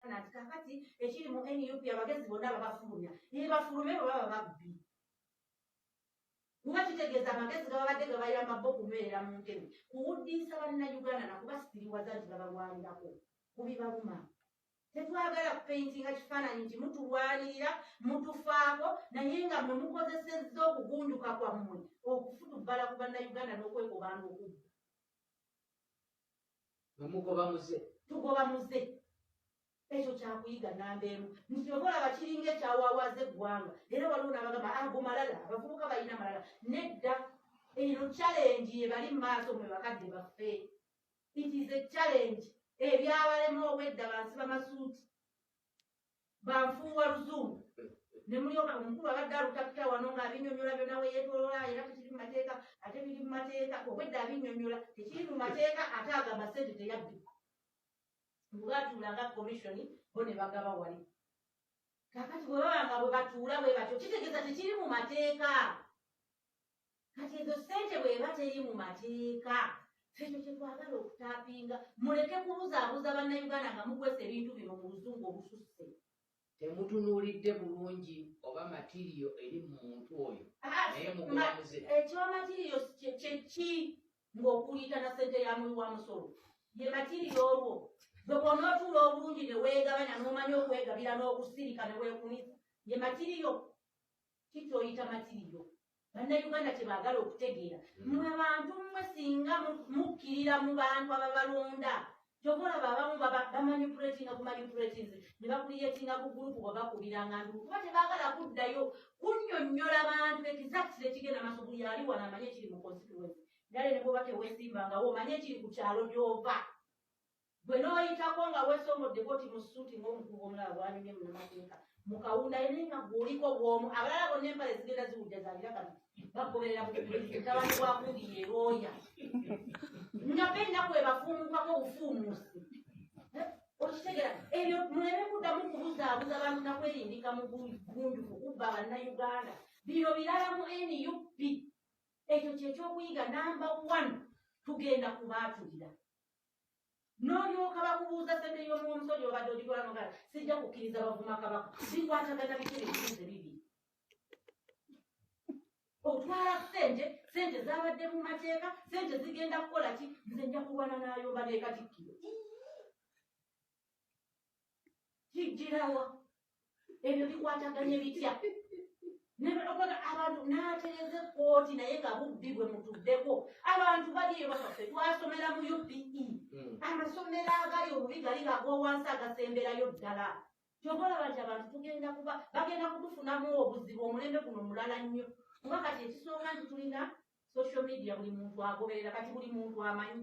nati kakati ekiri mu nup abagezi bonna babafulumya nebafulume bwe baba babbi nga kitegeeza amagezi gababadde gabayamba bo okunywerera mu ntebe kuwuddiisa bannayuganda nakubasitiriwaza nti babalwanirako kubibaluma tetwagala kupeintinga kifaananyi nti mutulwanirira mutufaako naye nga mwe mukozesezza okugunjuka kwammwe okufutubbala ku bannayuganda n'okwekobanga okubba wemugoba muze tugoba muze ekyo kyakuyiga namba emu nti oba olaba kiringa ekyawawaaza eggwanga era waliwo nabagamba ago ah, malala abavubuka balina malala nedda eno challenge yebali mu maaso mwe bakadde baffe it is a challenge ebyabalema obwedda bansi bamasuuti bafuuwa luzungu ne mulyoka omukulu abadde alutakita wano ng'abinyonyola byonna we yeetolola era tekiri mu mateeka ate biri mu mateeka obwedda abinyonyola tekiri mu mateeka ate agamba ssente teyabbibwa mbubaatuula nga komisioni bo ne bagaba wali kakati bwe baba nga bwe batuula bwe batyo kitegeeza tekiri mu mateeka kati ezo sente bweba teri mu mateeka ekyo kyetwagala okutapinga muleke kubuzaabuza bannayuganda nga mukwesa ebintu bino mu luzungu obususse temutunuulidde bulungi oba matiriyo eri mu muntu oyo ah, naye mugulamuze ekyoba eh, matiriyo kyeki ng'okuliita na sente ya muwi wa musolo ye matiriyo olwo gwe bwonootuula obulungi ne weegabanya n'omanya okwegabira n'okusirika ne weekunisa ye matiriyo kikyoyita matiriyo bannayuganda kyebaagala okutegeera mm. mwe bantu mmwe singa mukkirira mu bantu ababalonda kyova olaba abamu bamanipulatinga ku manipulatinze ne bakuliyetinga ku gurupu bwe bakubiranga nduku kuba tebaagala kuddayo kunnyonnyola bantu ekizakisira ekigenda maaso buli ali wano amanye ekiri mu constituensi ndale ne bwoba tewesimbangawo omanye ekiri ku kyalo gy'ova gwe n'oyitako nga weesomoddeko ti mu suuti ng'omukugu omulala bwanyumye munamateeka mu kawunda ye naye nga gwoliko bwomu abalala bonna empale zigenda ziwujja zagira kati bagoberera mutabani wa kundi ye looya nga be ennaku ebafuumukako obufuumuusi okitegera ebyo muleme kuddamu kubuzaabuza bantu nakwerimbika mu gunjufu kubba bannayuganda bino birala mu nup ekyo kyekyokuyiga namba one tugenda kubaatulira n'olyoka bakubuuza sente y'omuwa omusolo gyobadde ogitwalanogala sijja kukkiriza bavuma kabaka bikwatagana biki ebibuuze bibi otwala sente sente zabadde mu mateeka sente zigenda kukola ki nze nja kulwana nayomba nekatikkiro kijjirawa ebyo bikwataganye bitya nebaokola abantu nateeza ekkooti naye nga bubbi bwe mutuddeko abantu baliyo bafaffe twasomera mu upe hmm. amasomero agali obubi gali gagowansi agasemberayo ddala kyova olaba nti abantu tugenda kuba bagenda kutufunamu obuzibu omulembe guno mulala nnyo kuba kati ekisonga nti tulina social media buli muntu agoberera kati buli muntu amanyi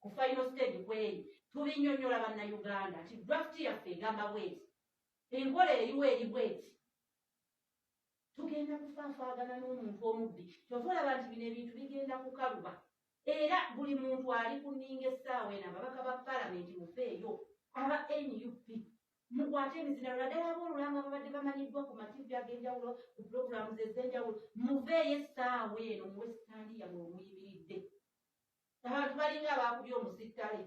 ku final stage kweri tubinyonyola banna uganda nti draft yaffe egamba bweti enkola eriwo eri bweti tugenda kufaafaagana n'omuntu omubbi kyova olaba nti bino ebintu bigenda kukaluba era buli muntu ali ku nninga essaawa eno ababaka ba palamenti mufeeyo aba nup mukwate emizina lwadala abolulanga babadde bamanyiddwa ku mativi ag'enjawulo ku pulogulamu ze ez'enjawulo muveeyo essaawa eno muwe sitaani yamwe omuyimiridde abantu balinga abaakubye omusittale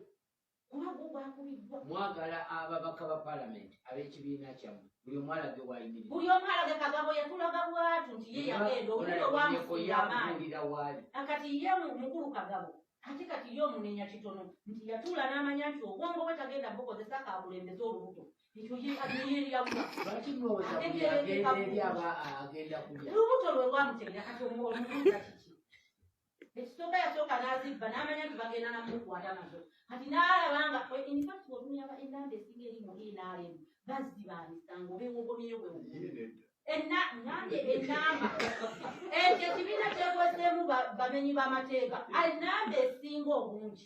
kuba gwo gwakubiddwa mwagala ababaka ba palamenti ab'ekibiina kyammwe buli omu alage wayimiri buli omu alage kagabo yatulaga bwatu nti ye yagenda omulo wamusiamaanira waali akati ye mukulu kagabo ate kati ye omunenya kitono nti yatuula n'amanya nti obwongo bwe tagenda bukozesa kakulembeza olubuto ekyo ye ayeyawa lwaki mwowezaagenda kulya lubuto lwe lwamutegera kati omubuuza kiki ekisooka yasooka n'azibba n'amanya nti bagenda namukwata nazo kati n'alaba nga infact otunyaba enamba esinga eri mu nrm baziba misango obewogomyeyo bwewogomye enamba ekyo ekibiina kyekozeemu bamenyi b'amateeka enamba esinga obungi